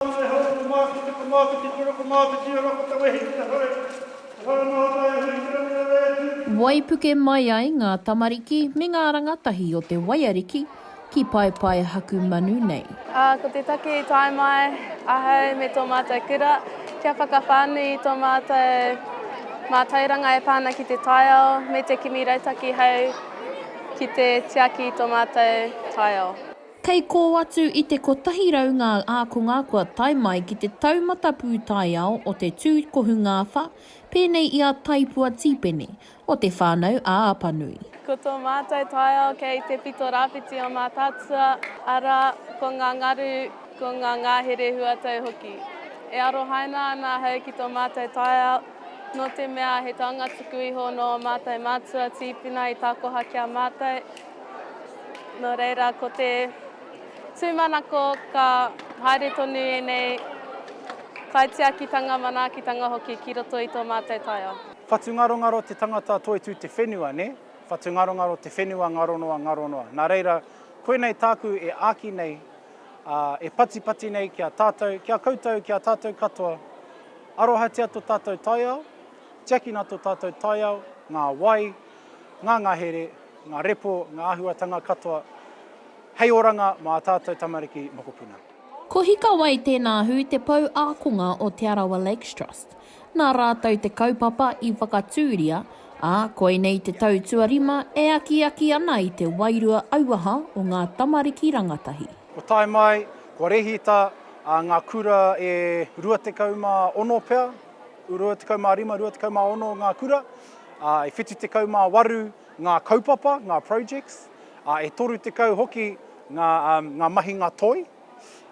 Whare hou te komāti, te komāti ki toro komāti ki ora ko te wehi ki te whare, te whare noa tae atu ki te rangirangā e Tū. Waipuke mai ai ngā tamariki me ngā rangatahi o te waiariki ki Paepaehakumanu nei. Ko te take i tae mai ahau me tō mātou kura kia whakawhānui i tō mātou mātauranga e pā ana ki te taiao me te kimi rautaki hei ki te tiaki i tō mātou taiao. Kei kō atu i te 100 ngā ākonga kua tae mai ki te taumata pūtaiao o te tū kohungāwha, pēnei i a Taipua Tīpene, o Te Whānau a Apanui. Ko tō mātou taiao kei te pito rāwhiti o Mātaatua, arā, ko ngā ngaru, ko ngā ngahere huatau hoki. E arohaina ana ahau ki tō mātou taiao, nō te mea he taunga tuku iho nō ō mātou mātua tīpuna i takoha ki a mātou, Nō reira, ko te tūmanako ka haere tonu ēnei kaitiakitanga, manaakitanga hoki ki roto i tō mātou taiao. Whatungarongaro te tangata toitū te whenua, nē? Whatungarongaro te whenua ngaronoa, ngaronoa. Nā reira, koinei tāku e āki nei, ā, e patipati nei ki a tātou, ki a koutou, ki a tātou katoa, arohatia tō tātou taiao, tiakina tō tātou taiao, ngā wai, ngā ngahere, ngā repo, ngā āhuatanga katoa hei oranga mā tātou tamariki mokopuna. Ko Hika Wai tēnā hū te pou ākonga o Te Arawa Lakes Trust. Nā rātou te kaupapa i whakatūria, ā, koinei te tau tuarima e akiaki ana i te wairua auaha o ngā tamariki rangatahi. Ko Tae Mai, ko Rehita, ā, ngā kura e 26 pea, 25, 26 ngā kura, ā, e 78 ngā kaupapa, ngā projects, ā, e 30 hoki ngā, um, ngā mahinga toi,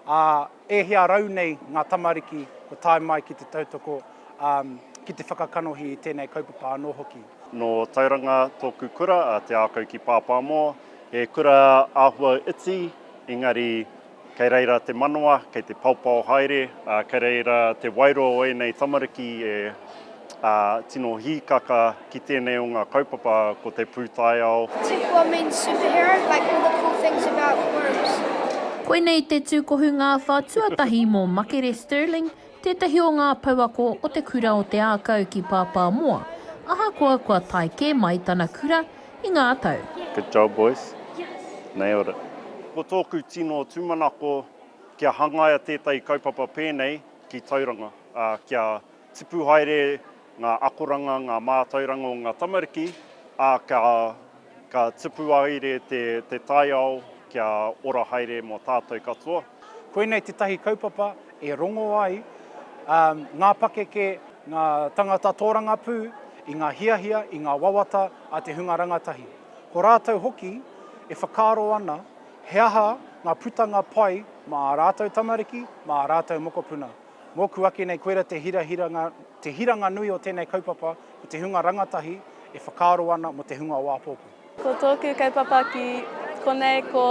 ā, e hia rau nei ngā tamariki kua tae mai ki te tautoko, um, ki te whakakanohi i tēnei kaupapa anō hoki. Nō Tauranga tōku kura, a Te Ākau ki Pāpāmoa. He kura āhua iti, engari Kei reira te manawa, kei te paopao haere, ā, kei reira te wairua o ēnei tamariki e tino hīkaka ki tēnei o ngā kaupapa ko te pūtaiao. Tupua means superhero, like all the cool things about worms. Koinei te tūkohu ngāwhā tuatahi mō Makere Stirling Tētahi o ngā pouako o te kura o Te Ākau ki Pāpāmoa, ahakoa kua tae kē mai tana kura i ngā tau. Good job boys. Nailed it. Ko tōku tino tūmanako kia hangaia tētahi kaupapa pēnei ki Tauranga, ā, kia tipu haere. ngā akoranga, ngā mātauranga o ngā tamariki, ā, ka, ka tipu aire te, te taiao kia ora haere mō tātou katoa. Koinei tētahi kaupapa e rongo ai ā ngā pakeke, ngā tangata tōrangapū i ngā hiahia, i ngā wawata a te hunga rangatahi. Ko rātou hoki e whakaaro ana he aha ngā putanga pai mā ā rātou tamariki, mā ā rātou mokopuna. Mōku ake nei koira te hirahiranga, te hiranga nui o tēnei kaupapa, ko te hunga rangatahi e whakaaro ana mō te hunga o āpōpō. Ko tōku kaupapa ki konei ko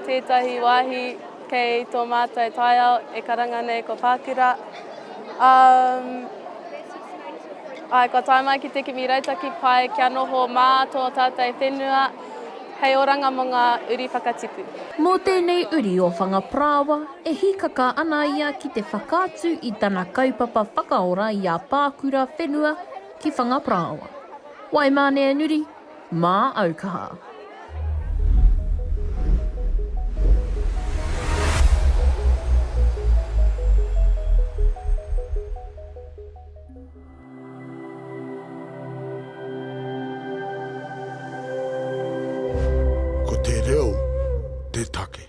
tētahi wāhi kei tō mātou taiao e karanga nei ko Pākura. Umm, āe, kua tae mai ki te kimi rautaki pai kia noho mā tō tātou whenua hei oranga mō ngā uri whakatipu. Mō tēnei uri o Whangaparāoa, E hīkaka ana ia ki te whakaatu i tana kaupapa whakaora i a Pākura whenua ki Whangaparāoa. Waimāneanuri, mā au kaha. Ko te reo te take.